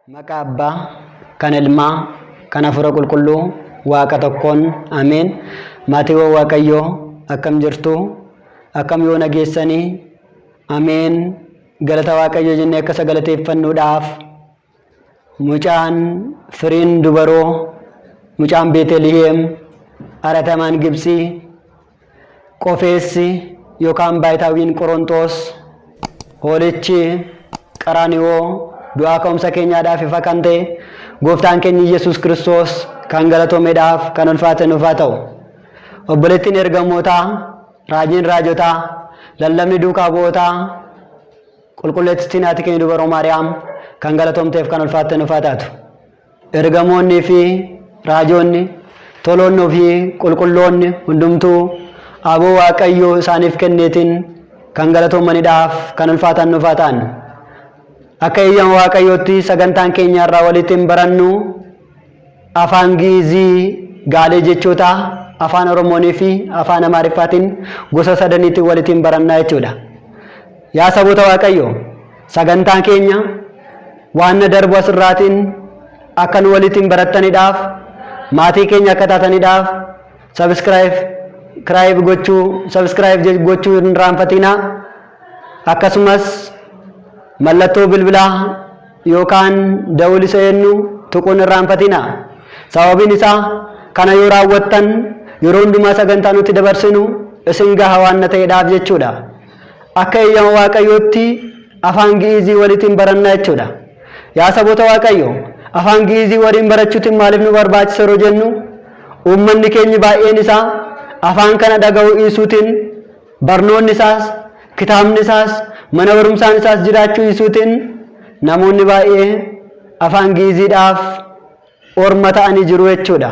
Maqaa Abbaa, kan Ilmaa, kan Hafuura Qulqulluu, Waaqa tokkoon, Ameen. Maatiiwwan Waaqayyoo akkam jirtu? Akkam yoo nageessanii? Ameen. Galata Waaqayyoo jennee akka isa galateeffannuudhaaf Mucaan firiin dubaroo, mucaan Beeteliheem, aratamaan Gibtsii, qofeessi yookaan baayitaawiin Qoronxoos, hoolichi Qaraaniwoo du'aa ka'umsa keenyaadhaaf ifa kan ta'e gooftaan keenya Yesuus Kiristoos kan galatoomedhaaf kan ulfaate nuuf haa ta'u. Obboleettiin ergamootaa, raajiin raajotaa, lallabni duukaa bu'ootaa, Qulqulleettiin haati keenya dubaroo Maariyaam kan galatoomteef kan ulfaatte nuuf haa taatu. Ergamoonnii fi raajoonni, toloonni ofii qulqulloonni hundumtuu aboo Waaqayyo isaaniif kenneetiin kan galatoomanidhaaf kan ulfaatan nuuf haa ta'an. Akka eeyyama Waaqayyootti sagantaan keenya irraa waliittiin barannu Afaan Gi'izii gaalee jechootaa Afaan Oromoonii fi Afaan Amaariffaatiin gosa sadaniitiin walitiin barannaa jechuudha. Yaa saboota Waaqayyoo, sagantaan keenya waanna darbu asirraatiin akka nu walitiin barattaniidhaaf, maatii keenya akka taataniidhaaf, sabiskiraayib gochuu, sabiskiraayib gochuu hin irraanfatiinaa. Akkasumas mallattoo bilbilaa yookaan dawul isa eennu tuquu hin irraanfatinaa. Sababiin isaa kana yoo raawwattan yeroo hundumaa sagantaa nuti dabarsinu isin gaha waanna ta'edhaaf jechuudha. Akka eeyyama Waaqayyootti afaan Gi'iizii walitiin baranna jechuudha. Yaa saboota Waaqayyo, afaan Gi'iizii waliin barachuutiin maaliif nu barbaachisa yeroo jennu, uummanni keenyi baay'een isaa afaan kana dhaga'uu dhiisuutiin Barnoonni isaas, kitaabni isaas, mana barumsaan isaas jiraachuu dhiisuutiin namoonni baay'ee afaan Gi'iiziidhaaf orma ta'anii jiru jechuudha.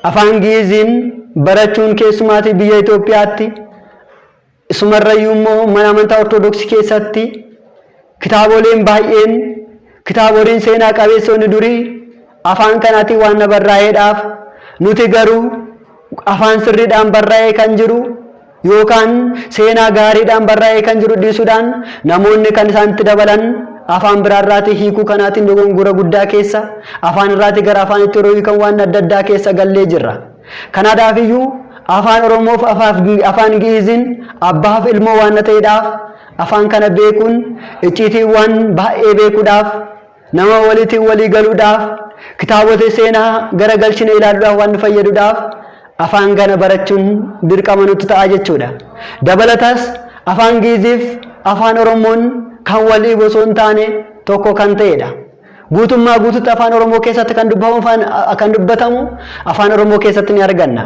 Afaan Gi'iiziin barachuun keessumaatii biyya Itoophiyaatti, isumarrayyuu immoo mana amantaa Ortodoksii keessatti, Kitaaboleen baay'een, kitaaboleen seenaa qabeessoonni durii afaan kanaatiin waan barraa'eedhaaf nuti garuu afaan sirriidhaan barraa'ee kan jiru yookaan seenaa gaariidhaan barraa'ee kan jiru dhiisuudhaan namoonni kan isaan itti dabalan afaan biraarraatii hiikuu kanaatiin dogongora guddaa keessa afaan irraatii gara afaan itti yeroo hiikan waan adda addaa keessa gallee jirra. Kanaadhaaf iyyuu afaan Oromoof afaan Gi'iiziin abbaaf ilmoo waan ta'eedhaaf Afaan kana beekuun icciitiiwwaan baay'ee beekuudhaaf, nama waliitiin walii galuudhaaf, kitaabota seenaa gara galchine ilaaluudhaaf waan nu fayyaduudhaaf afaan kana barachuun dirqama nutti ta'a jechuudha. Dabalatas afaan Giiziif afaan Oromoon kan wal dhiibu osoo hin taane tokko kan ta'edha. Guutummaa guututti afaan Oromoo keessatti kan dubbamu afaan kan dubbatamu afaan Oromoo keessatti ni arganna.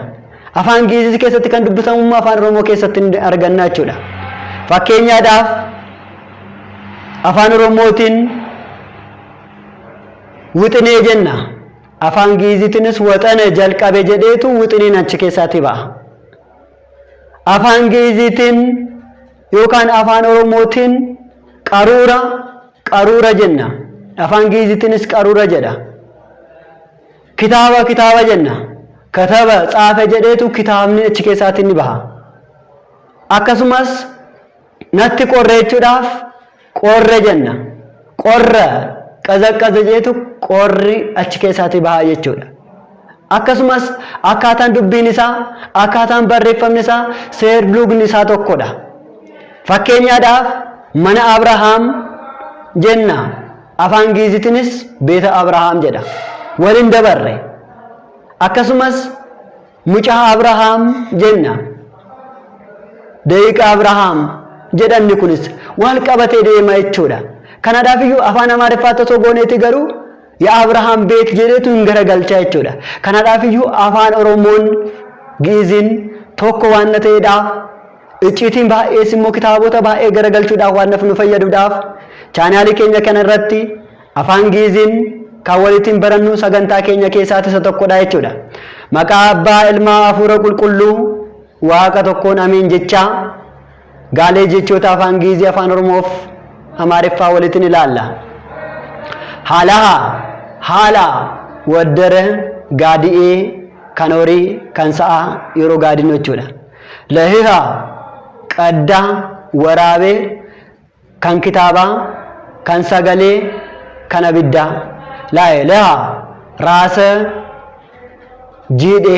Afaan Giizis keessatti kan dubbatamu immoo afaan Oromoo keessatti ni arganna jechuudha. Fakkeenyaadhaaf afaan Oromootiin wixinee jenna. Afaan Giizitiinis waxana jalqabe jedheetu wixineen achi keessaatii ba'a. Afaan Giizitiin yookaan afaan Oromootiin qaruura Qaruura jenna. Afaan Gi'iizitiinis qaruura jedha. Kitaaba kitaaba jenna. Kataba tsaafe jedheetu kitaabni achi keessaatiin ni baha. Akkasumas natti qorre jechuudhaaf qorre jenna. Qorra qazaqqaza jedheetu qorri achi keessaatii baha jechuudha. Akkasumas, akkaataan dubbiin isaa, akkaataan barreeffamni isaa, seerluugni isaa tokko dha. Fakkeenyaadhaaf, mana Abrahaam jenna, afaan Giizitinis beeta Abrahaam jedha. Wal hin dabarre. Akkasumas, mucaa Abrahaam jenna, da'iiqa Abrahaam jedhanni kunis wal qabatee deema jechuudha. Kanaadhaaf iyyuu afaan Amaariffaatti osoo gooneeti garuu Yaa Abrahaam beet jedheetu hin garagalchaa jechuudha. Kanadhaaf iyyuu afaan Oromoon gi'iziin tokko waan ta'eedha. Icciitiin baay'ees immoo kitaabota baay'ee garagalchuudhaaf waan nu fayyaduudhaaf chaanaalii keenya kana irratti afaan gi'iziin kan walittiin barannu sagantaa keenya keessaa isa tokkodha jechuudha. Maqaa abbaa ilmaa hafuura qulqulluu waaqa tokkoon ameen jechaa. Gaalee jechoota afaan Giizii afaan Oromoof Amaariffaa walitin ilaalla. Haalaha, haala, waddara, gaadi'ee, kan horii, kan sa'a, yeroo gaadinu jechuudha. Lahiha, qadda, waraabe, kan kitaabaa, kan sagalee, kan abiddaa. Lahe, laha, raasa, jiidhe,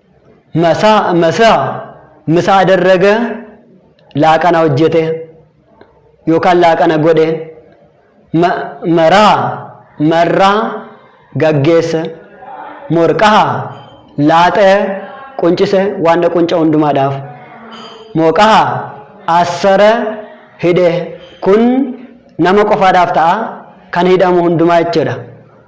masaa masaa misa adarraga laaqana hojjete yookaan laaqana godhe ma- maraa marraa gaggeesse morqaha laaxee quncise waan qunca hundumaadhaaf mooqaha assara hidhe kun nama qofaadhaaf ta'a kan hidhamu hundumaa jechuudha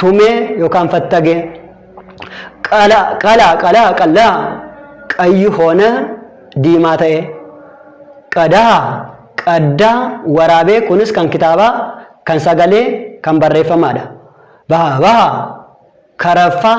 tumee yookaan fattagee qala qala qala qallaa qayyi hoona diimaa ta'ee qadaa qaddaa waraabee kunis kan kitaabaa kan sagalee kan barreeffamaadha baha baha karaffaa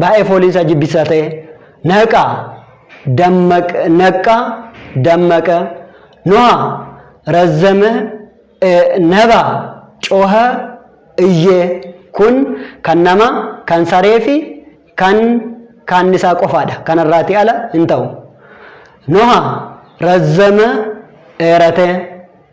Baay'ee fooliin isaa jibbisaa ta'e. Naqa, dammaq, naqqa, dammaqa. Noha, razzame, e, naba, coha, iyye. Kun kan nama, kan saree fi kan kaannisaa qofaadha. Kanarraati ala hin ta'u. Noha, razzame, dheerate.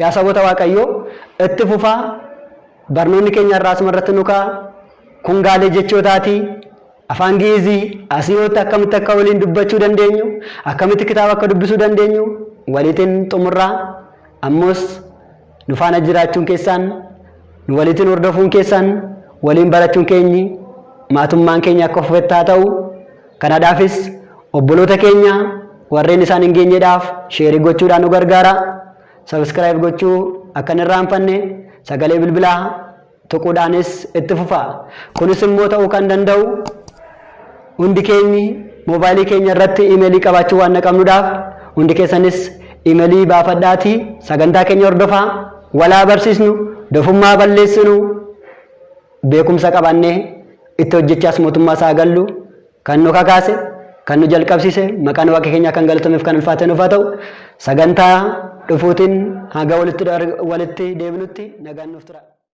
Yaa saboota Waaqayyoo itti fufaa barnoonni keenya har'aa asuma irratti nu ka'a. Kun gaalee jechootaati. Afaan Gi'izii asii hootti akkamitti akka waliin dubbachuu dandeenyu, akkamitti kitaaba akka dubbisuu dandeenyu waliitiin xumurraa. Ammoos nu faana jiraachuun keessaan, nu waliitiin hordofuun keessaan, waliin barachuun keenyi maatummaan keenya akka fufetti haa ta'u. Kanadhaafis obboloota keenya warreen isaan hin geenyedhaaf sheerii gochuudhaan nu gargaara. Subscribe gochuu akka hin irraanfanne sagalee bilbilaa tuquudhaanis itti fufa. Kunis immoo ta'uu kan danda'u hundi keenyi moobaayilii keenya irratti imeelii qabaachuu waan naqabnudhaaf hundi keessanis imeelii baafadhaati sagantaa keenya hordofaa walaa barsiisnu dofummaa balleessinu. beekumsa qabaannee itti hojjechaas mootummaa isaa gallu kan nu kakaase kan nu jalqabsiise maqaan waaqa keenyaa kan galatameef kan ulfaate nuuf haa ta'u sagantaa dhufuutiin haga walitti deebinutti nagaan nuuf tura.